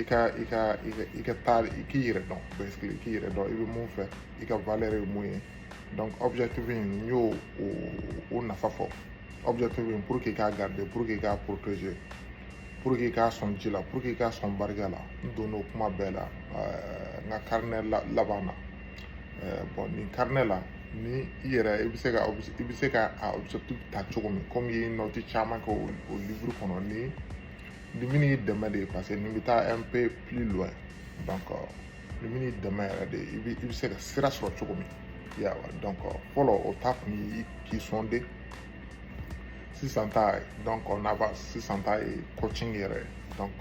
i ka i ka i ka i ka taa i k'i yɛrɛ dɔn basically i k'i yɛrɛ dɔn i bɛ mun fɛ i ka valeur ye mun ye donc objectif in n y'o o o nafa fɔ objectif in pour que k'a garder pour que k'a protéger pour que k'a sɔn ji la pour que k'a sɔn barika la n donn'o kuma bɛɛ la ɛɛ n ka carnet la laban na ɛɛ bon nin carnet la ni i yɛrɛ i bɛ se ka i bɛ se ka a objectif ta cogo min comme i ye note caman kɛ o o livre kɔnɔ ni nin bɛn'i dɛmɛ de parce que nin bɛ taa un peu plus loin donc nin bɛn'i dɛmɛ yɛrɛ de i bɛ i bɛ se ka sira sɔrɔ cogo min yawa donc fɔlɔ o ta kun ye k'i sonder sisan ta donc on avance sisan ta ye coaching yɛrɛ ye donc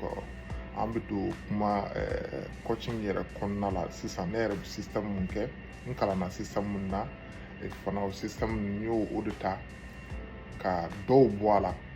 an bɛ don kuma eh, coaching yɛrɛ kɔnɔna la sisan ne yɛrɛ bɛ système mun kɛ n kalanna système mun na fana o système n y'o o de ta ka dɔw bɔ a la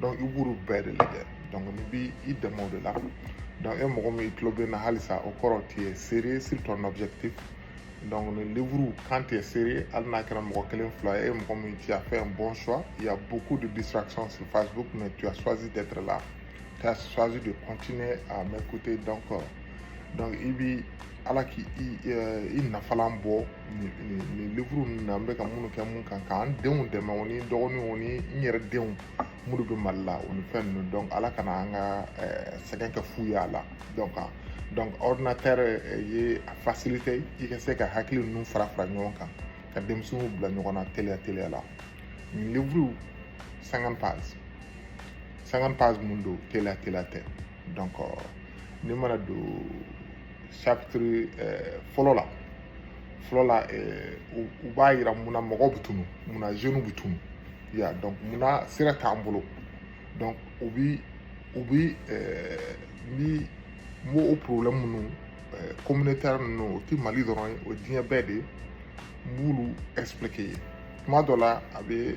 donc i b'olu bɛɛ de lajɛ donc nin b'i dɛmɛ o de la donc e mɔgɔ min i tulo bɛ n na halisa o kɔrɔ tu es sérieux sur ton objectif donc nin livre quand tu es sérieux hali n'a kɛra mɔgɔ kelen fila ye e mɔgɔ min tu as fait un bon choix il y a beaucoup de distractions sur Facebook mais tu as choisi d'être là tu as choisi de continuer à m'écouter donc euh, donc i bi ala k'i i nafalan bɔ nin livre ninnu na an bɛ ka minnu kɛ mun kan k'an denw dɛmɛ o ni dɔgɔninw o ni n yɛrɛ denw minnu bɛ mali la o ni fɛn ninnu donc ala kana an ka eh, sɛgɛn kɛ fu ye a la donc ah, donc ordinateur eh, ye a facilité i ka se ka hakili ninnu fara fara ɲɔgɔn kan ka denmisɛnninw bila ɲɔgɔn na teliya teliya la nin livre 50 pages 50 pages mun don teliya teliya tɛ donc euh, n'i mana don chapitre euh, fɔlɔ la fɔlɔ la euh, u b'a yira mun na mɔgɔw bɛ tunu mun na jeunes bɛ tunu ya donc mun na sira t'an bolo donc u bi u bi ni m'o o problème minnu communautaire ninnu o ti mali dɔrɔn ye o diɲɛ bɛɛ de ye n b'olu expliquer i ye tuma dɔ la a bɛ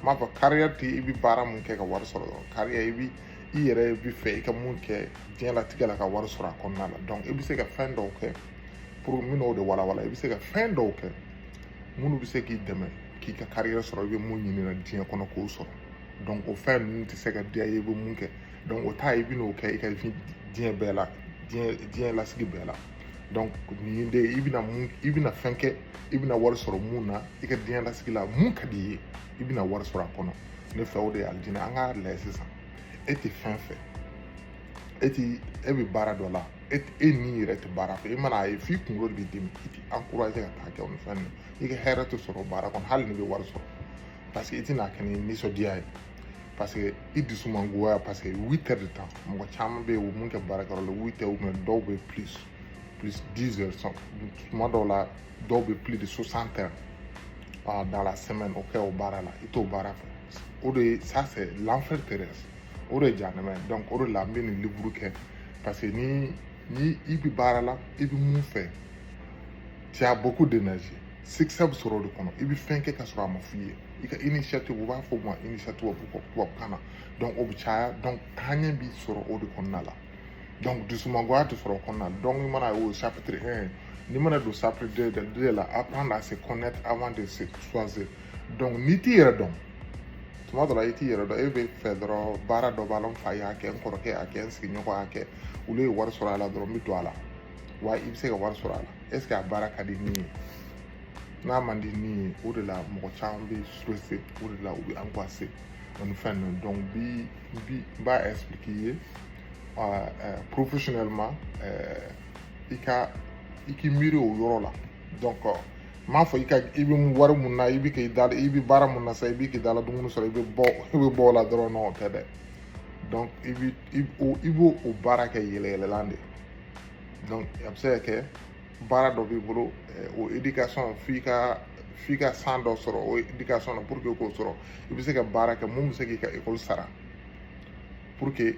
n b'a fɔ carrière tɛ i bɛ baara mun kɛ ka wari sɔrɔ dɔrɔn carrière i bɛ i yɛrɛ bɛ fɛ i ka mun kɛ diɲɛlatigɛ la ka wari sɔrɔ a kɔnɔna la donc i bɛ se ka fɛn dɔw kɛ pour n bɛn'o de walawala i bɛ se ka fɛn dɔw kɛ minnu bɛ se k'i dɛmɛ k'i ka carrière sɔrɔ i bɛ mun ɲini na diɲɛ kɔnɔ k'o sɔrɔ donc o fɛn ninnu tɛ se ka diya i ye i bɛ mun kɛ donc o ta i bɛn'o kɛ i ka diɲɛ bɛɛ la diɲɛ diɲɛ lasigi bɛɛ la donc nin de i bɛna mun i bɛna fɛn kɛ i bɛna wari sɔrɔ mun na i ka diɲɛ lasigi la mun ka di i ye i bɛna wari sɔrɔ a kɔnɔ ne fɛ o de ye alijinɛ an k'a lajɛ sisan e tɛ fɛn fɛ e ti e bɛ baara dɔ la e e ni yɛrɛ tɛ baara fɛ i man'a ye f'i kunkolo de b'i dimi i ti encouragé ka taa kɛ o ni fɛn ninnu i ka hɛrɛ tɛ sɔrɔ baara kɔnɔ hali n'i bɛ wari sɔrɔ parce que i tɛna kɛ ni nisɔndiya ye parce que i dusu man goya parce que huit heures de temps mɔgɔ caman bɛ yen u mun kɛ baarakɛyɔrɔ la huit heures mais dɔw bɛ plus plus dix heures sont tuma dɔw la dɔw bɛ plus de soixante heures ah, dans la semaine o kɛ o baara la i t'o baara fɛ o de ça c'est l'enfer terrestre o de ye janɛmɛ ye donc o de la n bɛ nin livre kɛ parce que ni ni i bɛ baara la i bɛ mun fɛ tu as beaucoup d'énergie succès bɛ sɔrɔ o de kɔnɔ i bɛ fɛn kɛ ka sɔrɔ a ma f'i ye i ka initiative u b'a fɔ o ma initiative tubabukan na donc o bɛ caya donc taaɲɛ b'i sɔrɔ o de kɔnɔna la donc dusumangoya tɛ sɔrɔ o kɔnɔna na donc i mana o chapitre un n'i mana don chapitre deux de deux la apprendre à se connaître avant de se choisir donc n'i t'i yɛrɛ dɔn tuma dɔ la i t'i yɛrɛ dɔn e bɛ fɛ dɔrɔn baara dɔ b'a la n fa y'a kɛ n kɔrɔkɛ y'a kɛ n sigiɲɔgɔn y'a kɛ olu ye wari sɔrɔ a la dɔrɔn n bɛ don a la wa i bɛ se ka wari sɔrɔ a la est ce que a baara ka di n ye n'a man di n ye o de la mɔgɔ caman bɛ stressé o de la u bɛ angoissé o ni fɛn ninnu donc bi bi n b'a expliquer i ye professionnellement i ka i k'i miiri o yɔrɔ la donc n m'a fɔ i ka i bɛ wari mun na i bɛ k'i da i bɛ baara mun na sa i bɛ k'i da la dumuni sɔrɔ i bɛ bɔ i bɛ bɔ o la dɔrɔn o tɛ dɛ donc i bɛ i b'o o baara kɛ yɛlɛyɛlɛlan de donc a bɛ se ka kɛ baara dɔ b'i bolo o éducation f'i ka f'i ka san dɔ sɔrɔ o éducation na pour que k'o sɔrɔ i bɛ se ka baara kɛ mun bɛ se k'i ka école sara pour que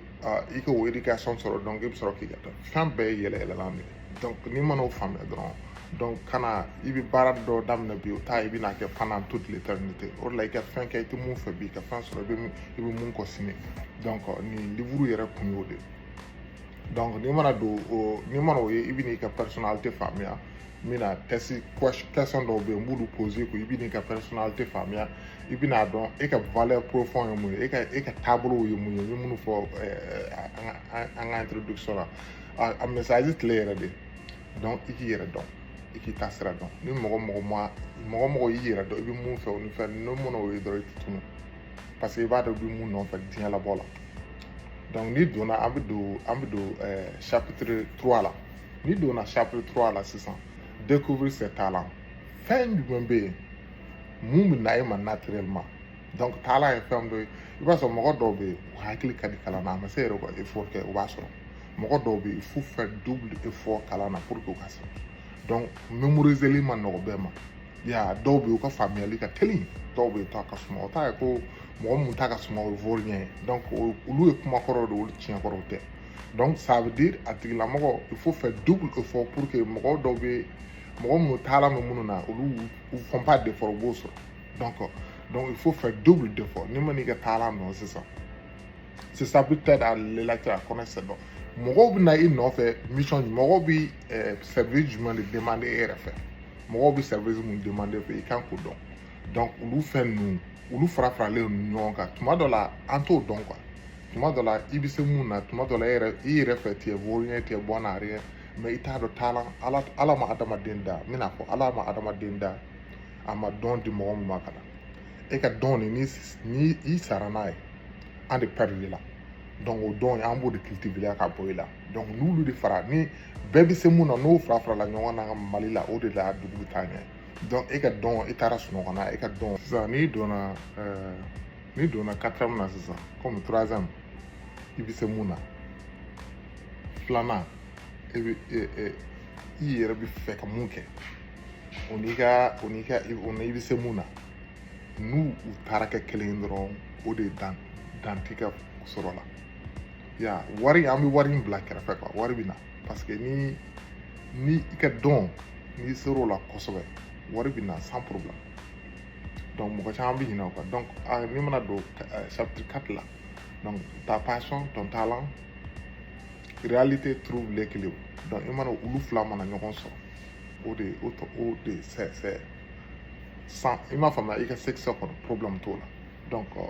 i ka o éducation sɔrɔ donc i bɛ sɔrɔ k'i ka taa fɛn bɛɛ ye yɛlɛyɛlɛlan de ye donc n'i mana o faamuya dɔrɔn donc kana i bɛ baara dɔ daminɛ bi o ta i bɛna kɛ pendant toute l'éternité o de la i ka fɛn kɛ i tɛ mun fɛ bi i ka fɛn sɔrɔ i bɛ i bɛ mun kɔ sini donc nin livre yɛrɛ kun y'o de ye donc n'i mana don o n'i mana o ye i bɛ n'i ka personnalité faamuya n bɛna test question dɔw bɛ yen n b'olu pose ko i bɛ n'i ka personnalité faamuya i bɛna dɔn e ka valeur profond ye mun ye e ka e ka taabolow ye mun ye n ye minnu fɔ an ka introduction la a message clé yɛrɛ de donc i k'i yɛrɛ dɔn i k'i taasira dɔn ni mɔgɔ mɔgɔ ma mɔgɔ mɔgɔ y'i yɛrɛ dɔn i bɛ mun fɛ o ni fɛn n'o mana o ye dɔrɔn i tɛ tunu parce que i b'a dɔn i bɛ mun nɔfɛ diɲɛ labɔ la donc n'i donna an bɛ don an bɛ don eh, chapitre 3 la n'i donna chapitre 3 la sisan découvrir ses talents fɛn jumɛn bɛ yen mun bɛ na e ma naturellement donc talent ye fɛn dɔ ye i b'a sɔrɔ mɔgɔ dɔw bɛ yen u hakili ka di kalan na a ma se yɛrɛ ka effort kɛ u b'a sɔrɔ mɔgɔ dɔw bɛ yen faut faire double effort kalan na pour que u ka sɔrɔ donc mémoriseli ma nɔgɔ bɛɛ ma ya dɔw bɛ yen u ka faamuyali ka teli dɔw bɛ yen u ta ka suma o t'a ye ko mɔgɔ mun ta ka suma o ye vaurien ye donc olu ye kuma kɔrɔw de olu tiɲɛ kɔrɔw tɛ donc ça veut dire a tigilamɔgɔ il faut faire double effort pour que mɔgɔ dɔw bɛ mɔgɔ minnu talent bɛ minnu na olu u font pas d'effort u b'o sɔrɔ donc donc il faut faire double d'effort n'i ma n'i ka talent dɔn sisan c'est ça peut aider les lecteurs à connaître ses dons mɔgɔw bɛ na i nɔfɛ mission mɔgɔw bɛ eh, service jumɛn de demander e yɛrɛ fɛ mɔgɔw bɛ service mun demander i fɛ i kan k'o dɔn donc olu fɛn ninnu olu fara faralen don ɲɔgɔn kan tuma dɔ la an t'o dɔn quoi tuma dɔ la i bɛ se mun na tuma dɔ la e yɛrɛ i yɛrɛ fɛ tu es vaurien tu es bon à rien mais i t'a dɔn talent ala ala ma adamaden da n bɛna fɔ ala ma adamaden da a ma don di mɔgɔ min ma ka na e ka don de ni ni i sara n'a ye an de perdre la donc o don an b'o de cultiver ka bɔ i la donc n'olu de fara ni bɛɛ bɛ se mun na n'o fara farala ɲɔgɔn na mali la o de la dugu bɛ taa ɲɛ donc e ka don i taara sunɔgɔ na e ka don sisan n'i donna ɛɛ n'i donna quatrième na sisan comme troisième i bɛ se mun na filanan e bɛ e e i yɛrɛ bɛ fɛ ka mun kɛ o n'i ka o n'i ka o n'i bɛ se mun na n'u u taara kɛ kelen ye dɔrɔn o de dan dan t'i ka sɔrɔ la ya wari an bɛ wari in bila kɛrɛfɛ quoi wari bɛ na parce que ni ni i ka don n'i ser'o la kosɛbɛ wari bɛ na sans problème donc mɔgɔ caman bɛ ɲinɛ o kan donc n'i mana don chapitre 4 la donc ta passion ton talent réalité trouve l'équilibre donc i mana olu fila mana ɲɔgɔn sɔrɔ o de o tɔ o de c'est c'est sans i m'a faamuya i ka succès kɔnɔ problème t'o la donc euh,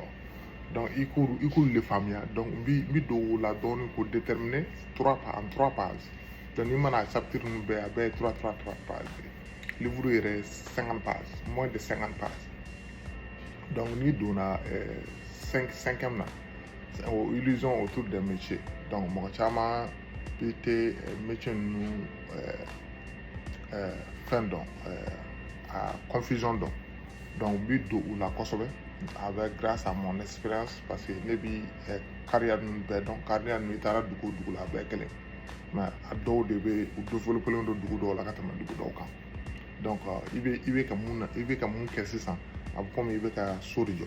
donc i k'olu i k'olu de faamuya donc n bi n bi don o la dɔɔnin k'o déterminer trois pages en trois pages donc n'i mana chapitre ninnu bɛɛ a bɛɛ ye trois trois trois pages livre yɛrɛ ye cinquante pages moins de cinquante pages donc n'i donna euh, cinq cinquième na o illusion autour des métiers donc mɔgɔ caman bɛ tɛ eh, métier ninnu eh, eh, fɛn dɔn a confusion don donc n bi don u la kosɛbɛ avec grâce à mon expérience parce que ne bi carrière ninnu bɛɛ dɔn carrière ninnu i taara dugu o dugu la a bɛɛ kelen mais a dɔw de bɛ u développelen don dugu dɔw la ka tɛmɛ dugu dɔw kan donc i bɛ i bɛ ka mun na i bɛ ka mun kɛ sisan a bɛ komi i bɛ ka so de jɔ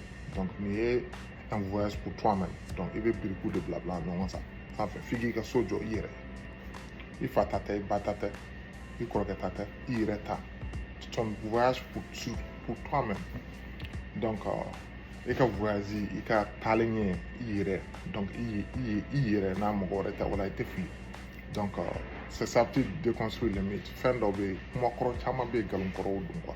donc nin ye un voyage pour toi même donc i bɛ birikiw de bila bila ɲɔgɔn sa sanfɛ f'i k'i ka so jɔ i yɛrɛ i fa ta tɛ i ba ta tɛ i kɔrɔkɛ ta tɛ i yɛrɛ ta c'est un voyage pour, pour toi même donc euh, i ka voyage i ka taalen ɲɛ i yɛrɛ donc i ye i ye i yɛrɛ n'a mɔgɔ wɛrɛ tɛ wala i tɛ fili donc euh, c'est ça peut déconstruire les mythes fɛn dɔ bɛ yen kuma kɔrɔ caman bɛ yen nkalon kɔrɔw don quoi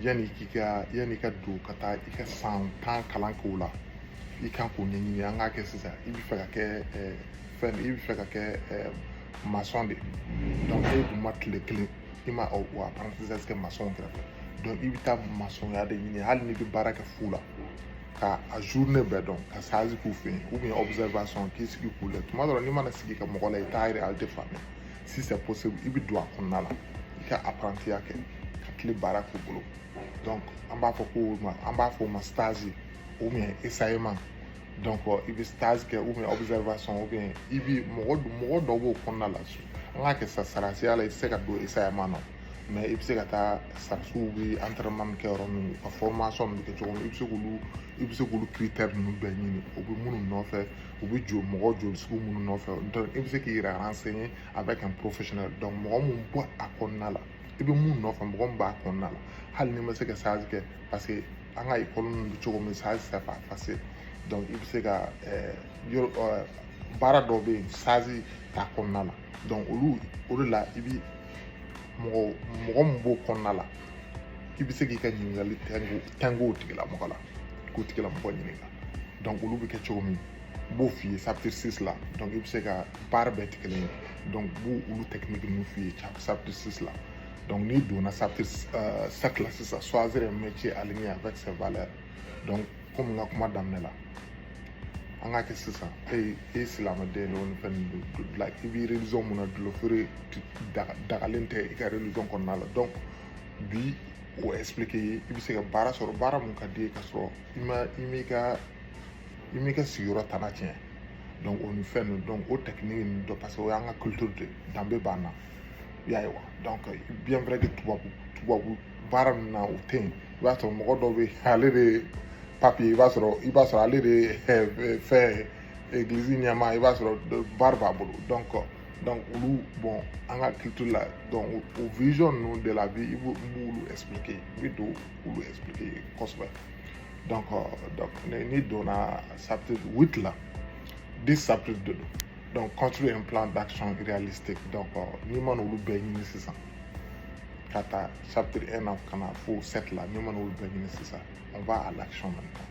yanni k'i ka yanni ka don ka taa i ka san tan kalan k'o la i kan k'o ɲɛɲini an k'a kɛ sisan i bɛ fɛ ka kɛ fɛn i bɛ fɛ ka kɛ masɔn de donc e dun ma tile kelen i ma o apprentissage kɛ masɔnw kɛrɛfɛ donc i bɛ taa masɔnya de ɲini hali n'i bɛ baara kɛ fu la ka a journée bɛɛ dɔn ka stage k'u fɛ yen ou bien observation k'i sigi k'u lajɛ tuma dɔ la n'i mana sigi ka mɔgɔ lajɛ i t'a réalité faamuya si c'est possible i bɛ don a kɔnɔna la i ka apprentiya kɛ ka tile baara k'u bolo donc an b'a fɔ ko ma an b'a fɔ o ma stage ou bien essayement donc i bɛ stage kɛ ou bien observation ou bien i bɛ mɔgɔ mɔgɔ dɔw b'o kɔnɔna la an k'a kɛ sa sarasiya la i tɛ se ka don essayement na mais i bɛ se ka taa sarasiw bɛ entraînement min kɛ yɔrɔ min u ka formation min bɛ kɛ cogo min i bɛ se k'olu i bɛ se k'olu critère ninnu bɛɛ ɲini o bɛ minnu nɔfɛ u bɛ jɔ mɔgɔ joli sugu minnu nɔfɛ i bɛ se k'i yɛrɛ renseigner avec un professionnel mɔgɔ min b'a kɔnɔna la i bɛ mun nɔfɛ mɔgɔ min b'a kɔnɔna la hali n'i ma se ka stage kɛ parce que an ka ekɔli ninnu bɛ cogo min stage c'est pas facile donc i bɛ se ka eh, yɔrɔ eh, baara dɔw bɛ yen stage t'a kɔnɔna la donc olu o de la i bɛ mɔgɔ mɔgɔ min b'o kɔnɔna la i bɛ se k'i ka ɲininkali tɛnku tɛnku o tigilamɔgɔ la K'o tigilamɔgɔ ɲininka donc olu bɛ kɛ cogo min n b'o f'i ye chapitre 6 la donc i bɛ se ka baara bɛɛ tɛ kelen ye donc n b'o olu technique ninnu f'i ye chapitre 6 la donc n'i donna chapitre 7 euh, la sisan choisir un métier aligné avec ses valeurs donc komi n ka kuma daminɛ la an k'a kɛ sisan e ye silamɛden de o ni fɛn ninnu don la i bɛ religion mun na dɔlɔfeere dagalen tɛ i ka religion kɔnɔna la donc bi o expliqué i ye i bɛ se ka baara sɔrɔ baara min ka d'i ye ka sɔrɔ i ma i m'i ka i m'i ka sigiyɔrɔ tana tiɲɛ donc o ni fɛn ninnu donc o technique ninnu dɔ parce que o y'an ka culture de danbe b'an na i y'a ye wa donc bien vrai que tubabu tubabu baara ninnu na o tɛ yen i b'a sɔrɔ mɔgɔ dɔw bɛ yen ale de pape ye i b'a sɔrɔ i b'a sɔrɔ ale de fɛn egilizi ɲɛmaa i b'a sɔrɔ baara b'a bolo donc donc olu bon an ka culture la donc o vision ninnu de la vie i b'o n b'olu expliquer i bɛ don k'olu expliquer kosɛbɛ donc euh, donc n'i donna chapitre huit la dix chapitres de don donc construire un plan d'action réalistique donc euh, n'i man'olu bɛɛ ɲini sisan ka taa chapitre un na ka na fo sept la n'i man'olu bɛɛ ɲini sisan on va à l'action maintenant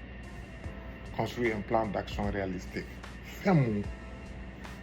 construire un plan d'action réalistique fɛn mun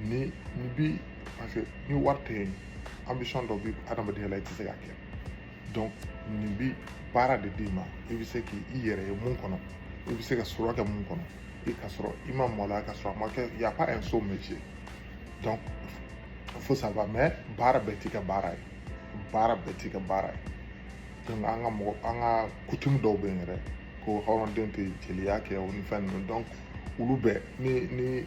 ni ni bi parce que ni wari tɛ yen ambition dɔ bɛ adamadenya la i tɛ se k'a kɛ donc nin bi baara de d'i ma i bɛ se k'i i yɛrɛ ye mun kɔnɔ i bɛ se ka sɔrɔ kɛ mun kɔnɔ i ka sɔrɔ i ma maloya ka sɔrɔ a ma kɛ y a pas un sot métier donc faut savoir mais baara bɛɛ t'i ka baara ye baara bɛɛ t'i ka baara ye donc an ka mɔgɔ an ka coutume dɔw bɛ yen yɛrɛ ko hɔrɔnden tɛ jeliya kɛ o ni fɛn ninnu donc olu bɛɛ ni ni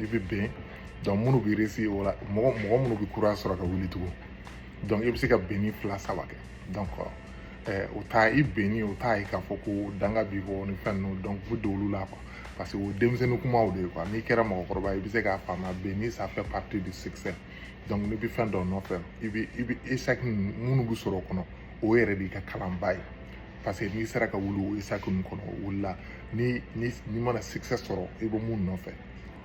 i bɛ ben donc minnu bɛ réussir o la mɔgɔ mɔgɔ minnu bɛ courage sɔrɔ ka wuli tugun donc i bɛ se ka benni fila saba kɛ donc ɛɛ o t'a i benni o t'a ye k'a fɔ ko danga b'i kɔ ni fɛn ninnu donc u bɛ don olu la quoi parce que o denmisɛnnin kumaw de ye quoi n'i kɛra mɔgɔkɔrɔba ye i bɛ se k'a faamuya benni ça fait partie du succès donc n'i bɛ fɛn dɔ nɔfɛ i bɛ i bɛ échec minnu bɛ sɔrɔ o kɔnɔ o yɛrɛ d'i ka kalanba ye parce que n'i sera ka wuli o échec ninnu kɔnɔ o wulila ni ni n'i mana succès sɔrɔ i bɛ mun nɔfɛ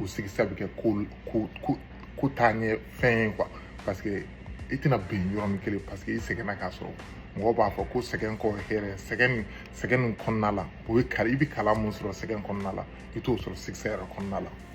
o succès bɛ kɛ ko ko ko ko taa ɲɛ fɛn ye quoi parce que i tɛna ben yɔrɔnin kelen parce que i sɛgɛnna k'a sɔrɔ mɔgɔ b'a fɔ ko sɛgɛn kɔ hɛrɛ sɛgɛn nin sɛgɛn nin kɔnɔna la o ye kala i bɛ kalan mun sɔrɔ sɛgɛn kɔnɔna la i t'o sɔrɔ succès yɛrɛ kɔnɔna la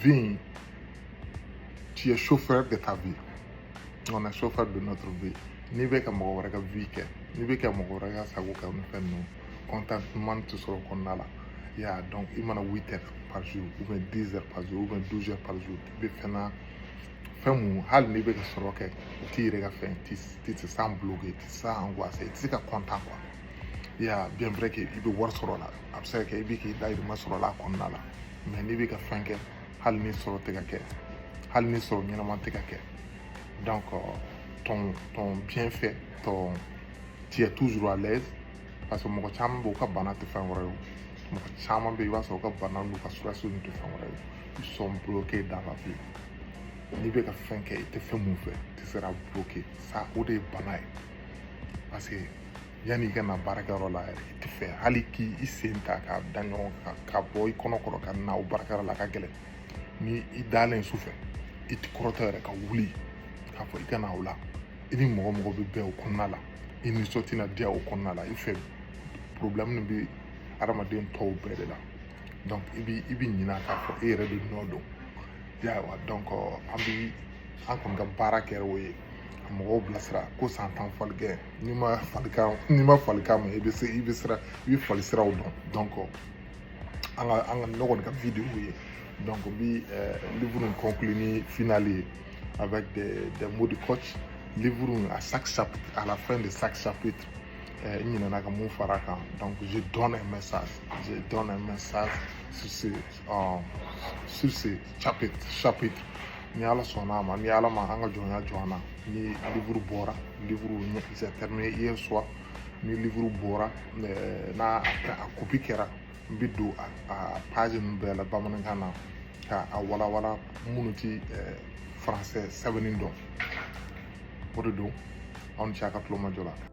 Viens, tu es chauffeur de ta vie. On est chauffeur de notre vie. N'i bɛ ka mɔgɔ wɛrɛ ka vie kɛ, n'i bɛ ka mɔgɔ wɛrɛ ka sago kɛ ni fɛn ninnu, contentement tɛ sɔrɔ o kɔnɔna la. Ya donc n'i mana 8 heures par jour ou bien 10 heures par jour ou bien 12 heures par jour i bɛ fɛn na fɛn mun hali n'i bɛ ka sɔrɔ kɛ o t'i yɛrɛ ka fɛn tu tu te sens bloqué tu te sens angoissé i tɛ se ka content quoi. i y'a bien vrai que i bɛ wari sɔrɔ la a bɛ se ka kɛ i bɛ k'i dahirimɛ sɔrɔ la a kɔnɔna la mais n'i bɛ ka fɛn kɛ hali ni sɔrɔ tɛ ka kɛ hali ni sɔrɔ ɲɛnama tɛ ka kɛ donc ton ton bien fait ton tu es toujours à l'aise parce que mɔgɔ caman b'u ka bana tɛ fɛn wɛrɛ ye mɔgɔ caman bɛ i b'a sɔrɔ u ka bana n'u ka stress tɛ fɛn wɛrɛ ye ils sont bloqués dans la vie n'i bɛ ka fɛn kɛ i tɛ fɛn mun fɛ tu seras bloqué ça o de ye bana ye parce que yanni i ka na baarakɛyɔrɔ la yɛrɛ i tɛ fɛ hali k'i i sen ta k'a da ɲɔgɔn kan ka bɔ i kɔnɔ kɔrɔ ka na o baarakɛyɔrɔ la ka gɛlɛn ni i dalen su fɛ i tɛ kɔrɔtɔ yɛrɛ ka wuli k'a fɔ i ka na o la i ni mɔgɔ mɔgɔ bɛ bɛn o kɔnɔna la i nisɔn tɛna diya o kɔnɔna la i fɛ problème nin bɛ hadamaden tɔw bɛɛ de la donc i bɛ i bɛ ɲinɛ k'a fɔ e yɛrɛ de nɔ don yawa donc an bɛ an kɔni ka baara kɛra o ye ka mɔgɔw bilasira ko san tan faligɛn n'i ma falikan n'i ma falikan mɛn i bɛ se i bɛ sira i bɛ fali siraw dɔn donc an ka an ka ne kɔni ka vidéo ye donc n bi eh, livre in conclure ni finale ye avec des des mots de coach livre in à chaque chapitre à la fin de chaque chapitre eh, n ɲinɛna ka mun fara kan donc je donne un message je donne un message sur ce euh, sur ce chapitre chapitre ni ala sɔnna a ma ni ala ma an ka jɔnya jɔ an na ni livre bɔra livre j'ai terminé hier soir ni livre bɔra eh, n'a a copie kɛra n bɛ don a page ninnu bɛɛ la bamanankan na ka a walawala minnu ti eh, français sɛbɛnni dɔn o de don aw ni ce a ka tulomajɔ la